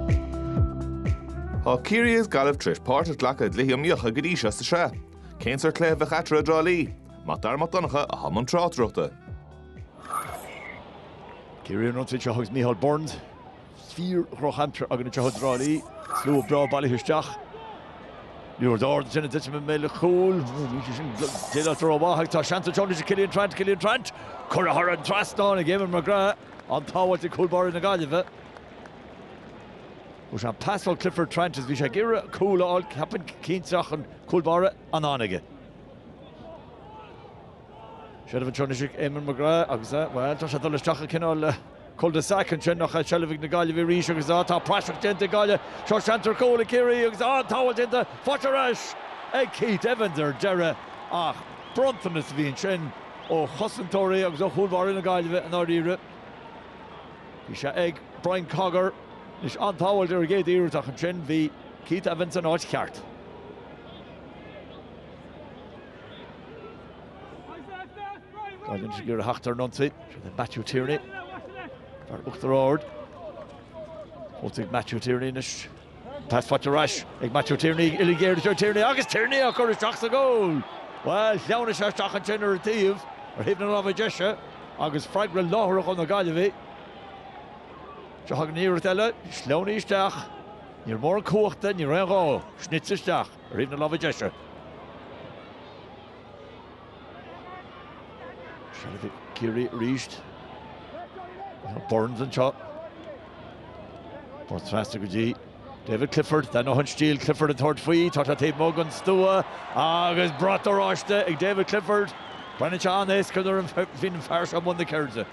Thá Ciarraí is Gaillimh tar éis páirt a ghlacadh i gcluichí iomaíocha go dtí seo sa sraith. Cén sórt cluiche a bheadh eatarthu i dTrá Lí? Mac Dara Mac Donncha athá i mbun tráchtaireachta. Ciarraí an rud seo agus Micheál Burns fíor-dhrochaimsir againn anseo i dTrá Lí. Slua breá bailithe isteach. Ní raibh aird ar Jenna Dettman mé le cúl. Déileáiltear rómhaith ach tá seans anseo anois ag Cillian Trant, Cillian Trant, curtha thar an trasnán ag Éamonn McGrath, an-tsábháilt ó chúl báire na Gaillimhe. Thug sé an pas ó Clifford Trant is bhí sé ag iarraidh cúl a fháil, ceapaim, cinnte ach an cúl báire in ann aige. Seilbh anseo anois ag Eamonn McGrath agus, bhuel, tá sé ag dul isteach i cineál cul de sac ansin, ach seilbh ag na Gaillimhigh arís agus tá praiseach déanta ag Gaillimh. Seo seans ar chúl ag Ciarraí agus an-tsábháilt déanta, faighte ar ais ag Keith Evans ar deireadh ach bronntanas a bhí ansin ó chosantóirí agus ó chúlbáire na Gaillimhe i ndáiríre. Bhí sé ag Brian Cogger anois an-tsábháilt ar an gcéad iarracht ach ansin bhí Keith Evans san áit cheart. Gaillimh anois ag iarraidh a theacht ar an ionsaí, sin é Matthew Tierney, fear Uachtar Ard. Thosaigh Matthew Tierney anois Pas faighte ar ais ag Matthew Tierney, uilig airde Joe Tierney agus Tierney á chur isteach sa gcúl! Bhuel, shleamhnaigh sé isteach ansin ar an taobh, ar thaobh na láimhe deise agus freagra láithreach ó na Gaillimhigh. Seo againn iarracht eile, sleamhnaithe isteach, níor mhór an cumhacht é, ní raibh aon ghá, snite isteach ar thaobh na láimhe deise. Seilbh ag Ciarraí arís. Burns anseo. Pas trasna go dtí David Clifford, d'aithneofá an stíl Clifford ag tabhairt faoi, tá sé taobh amuigh den stua agus brat oráiste ag David Clifford. Breathnaíonn sé an-éasca nuair a bhíonn an fear seo i mbun na ceirde.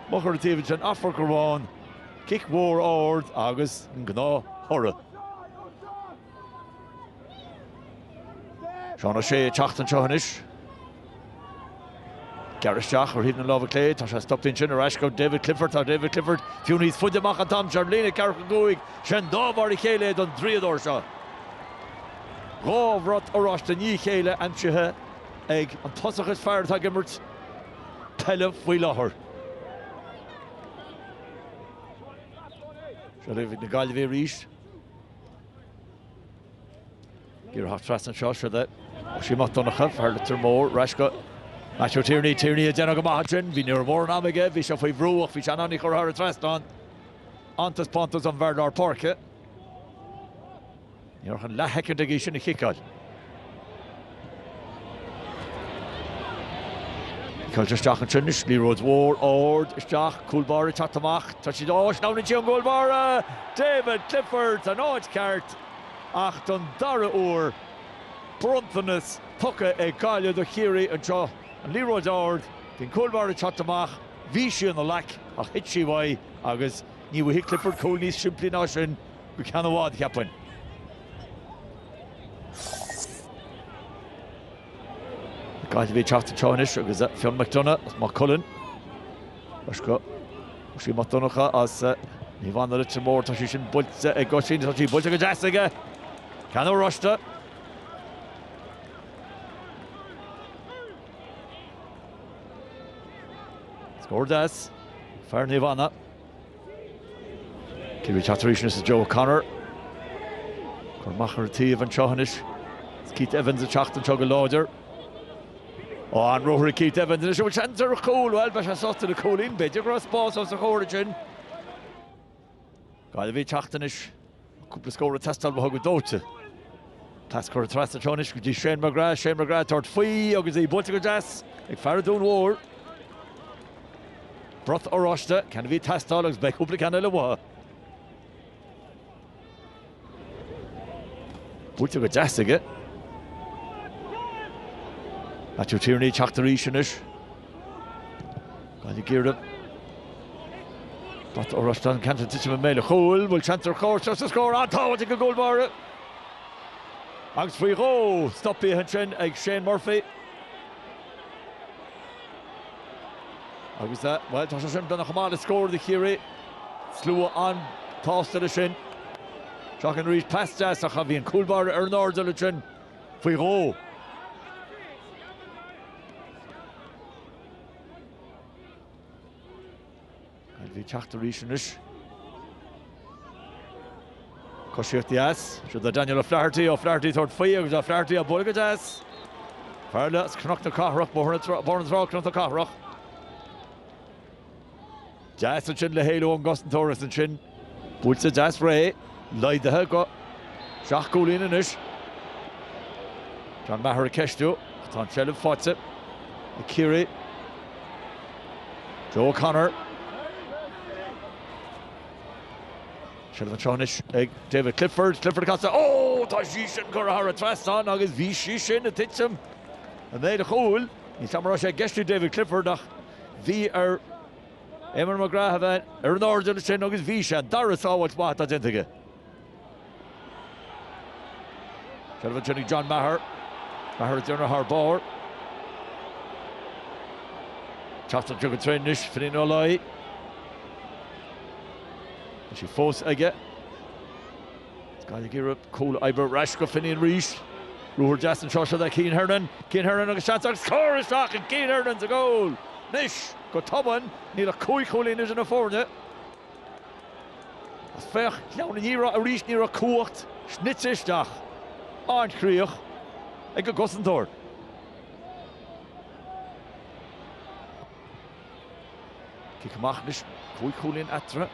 Amach ar an taobh ansin, Athphort Garbháin, cic mhór ard agus an gnáth thoradh. Seán Ó Sé ag teacht anseo anois. Gearradh isteach ar thaobh na láimhe clé, tá sé stoptha ansin, ar ais go David Clifford, tá David Clifford fiú níos faide amach an t-am seo ar líne ceathracha cúig, 'sé an dá mhar a chéile é don draíodóir seo. Dhá bhrat oráiste i ndiaidh a chéile aimsithe ag an tosach is fearr atá ag imirt peile faoi láthair. Seilbh ag na Gaillimhigh arís. Ag iarraidh a theacht trasna anseo, siod é. Oisín Mac Donncha, fear Leitir Móir, ar ais go Matthew Tierney. Tierney ag déanamh go maith ansin. Bhí ní raibh mórán am aige, bhí sé faoi bhrú ach bhí sé in ann í a chur thar an trasnán. An-taispeántas ón bhfear lár páirce. Ní raibh ach an leathshoicind aige í sin a chiceáil. Caite isteach ansin anois, liathróid mhór ard isteach, cúl báire ag teacht amach, tá sí, á, sleamhnaíonn sí ón gcúl báire! David Clifford san áit cheart ach don dara uair, bronntanas tugtha ag Gaillimh do Chiarraí anseo, an liathróid ard, bhí an cúl báire ag teacht amach, bhí sí ina ghlac ach thit sí uaidh agus ní bhfaighidh Clifford cúl níos simplí ná sin go ceann i bhfad, cheapfainn. Gaillimh ag teacht anseo anois agus Fionn Mac Donncha as Maigh Cuilinn. Leithscéal, Oisín Mac Donncha, as Naomh Anna Leitir Móir, tá sí sin buailte ag Oisín, tá sí buailte go deas aige. Ceann oráiste. Scór d'fhear Naomh Anna. Ciarraí ag teacht arís anois is Joe O'Connor á chur amach ar an taobh anseo anois. Is Keith Evans ag teacht anseo go láidir. Á, an ruathar ag Keith Evans anois, an bhfuil seans ar chúl? Bhuel, beidh sé sásta le cúilín, b'fhéidir go raibh spás os a chomhair ansin. Gaillimh ag teacht anois. Cúpla scór ag teastáil uathu go dóite. Pas curtha trasna anseo anois go dtí Shane McGrath. Shane McGrath ag tabhairt faoi agus í buailte go deas ag fear Dún Mhór. Brat oráiste, ceann a bhí ag teastáil agus beidh cúpla ceann eile uathu. Buailte go deas aige. Matthew Tierney ag teacht arís anois. Gaillimh ag iarraidh brat oráiste, ceann ag titim i mbéal a' chúil, bhfuil seans ar chúl anseo, scór? An-tsábháil ag an gcúl báire agus faoi dhó stopaithe ansin ag Shane Murphy agus, bhuel, tá sé sin beagnach chomh maith le scór do Chiarraí. Slua an-tsásta leis sin. Féach air arís pas deas ach bhí an cúl báire ar an airdeall ansin faoi dhó. Gaillimh ag teacht arís anois. Coisíocht dheas, siúd le Daniel O'Flaherty, O'Flaherty ag tabhairt faoi agus O'Flaherty á bualadh go deas. Fear eile as Cnoc na Cathrach, Bóthar na Trá, Cnoc na Cathrach. Deas ansin le héalú ón gcosantóir is ansin buailte deas réidh, laghdaithe go seacht gcúilín anois. John Maher ag ceistiú ach tá an seilbh faighte ag Ciarraí. Joe O'Connor. Seilbh anseo anois ag David Clifford, Clifford ag casadh, ó tá sí sin curtha thar an trasnán agus bhí sí sin ag titim i mbéal a chúil. Níl a fhios agam an raibh sé ag ceistiú David Clifford ach. Bhí ar Eamonn McGrath a bheith ar an airdeall ansin agus bhí sé. An dara sábháil mhaith atá déanta aige. Ceithre ansin ag John Maher. Maher ag déanamh thar barr. Teacht anseo go tréan anois Finnian Ó Laoi. Tá sí fós aige. Gaillimh ag iarraidh cúl a oibriú, ar ais go Finnian arís. Ruathar deas anseo, seo do Cian Hernon. Cian Hernon agus seans agus scór! Isteach ag Cian Hernon sa gcúl. Anois, go tobann, níl ach cúig chúilín idir na foirne. Agus féach, glan an iarracht arís, ní raibh cumhacht, snoite isteach, an-chríoch ag an gcosantóir. Cic amach anois, cúig chúilín eatarthu.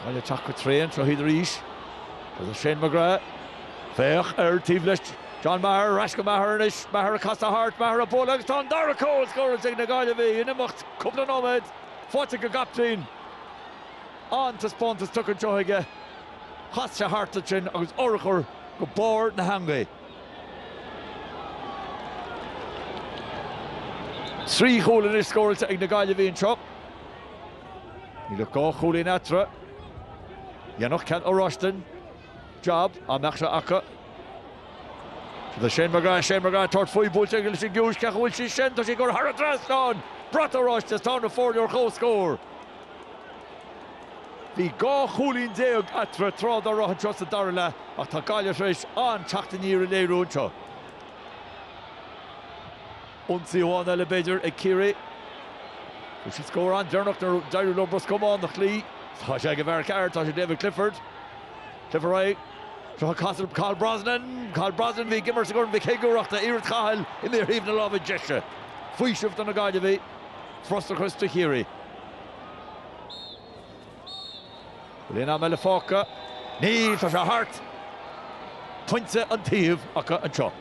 Gaillimh ag teacht go tréan seo iad arís. Agus Shane McGrath. Féach ar taobh leis John Maher, ar ais go Maher anois, Maher ag casadh thart, Maher ag bualadh agus tá an dara cúl scóráilte ag na Gaillimhigh in imeacht cúpla nóiméad. Faighte ag an gcaiptín. An-taispeántas tugtha anseo aige. Chas sé thart ansin agus urchar go barr na heangaí. Trí chúl anois scóráilte ag na Gaillimhigh anseo. Níl ach dhá chúilín eatarthu. Dhéanfadh ceann oráiste an jab dá mbeadh sé acu. Tá sé ag Shane McGrath, Shane McGrath ag tabhairt faoi, buailte aige leis an gcois, cé acu a bhfuil sí sin? Tá sí ag gabháil thar an trasnán! Brat oráiste is tá na foirne ar comhscór. Bhí dhá chúilín déag eatarthu tráth dá raibh anseo sa dara leath ach tá Gaillimh tar éis an-teacht aniar a léiriú anseo. Ionsaí amháin eile, b'fhéidir, ag Ciarraí. Fuair siad scór an-deireanach nuair a d'éirigh leo Ros Comáin a chloí. Tá sé ag an bhfear ceart, tá sé ag David Clifford. Clifford réidh. Seo ag casadh, Cathal Brosnan! Cathal Brosnan a bhí ag imirt sa gCorn Mhic Shigiúir ach tá iarracht Chathail imithe ar thaobh na láimhe deise. Faoiseamh do na Gaillimhigh. Frustrachas do Chiarraí. Bhfuil aon am eile fágtha? Níl, tá sé thart! Pointe an taobh acu anseo.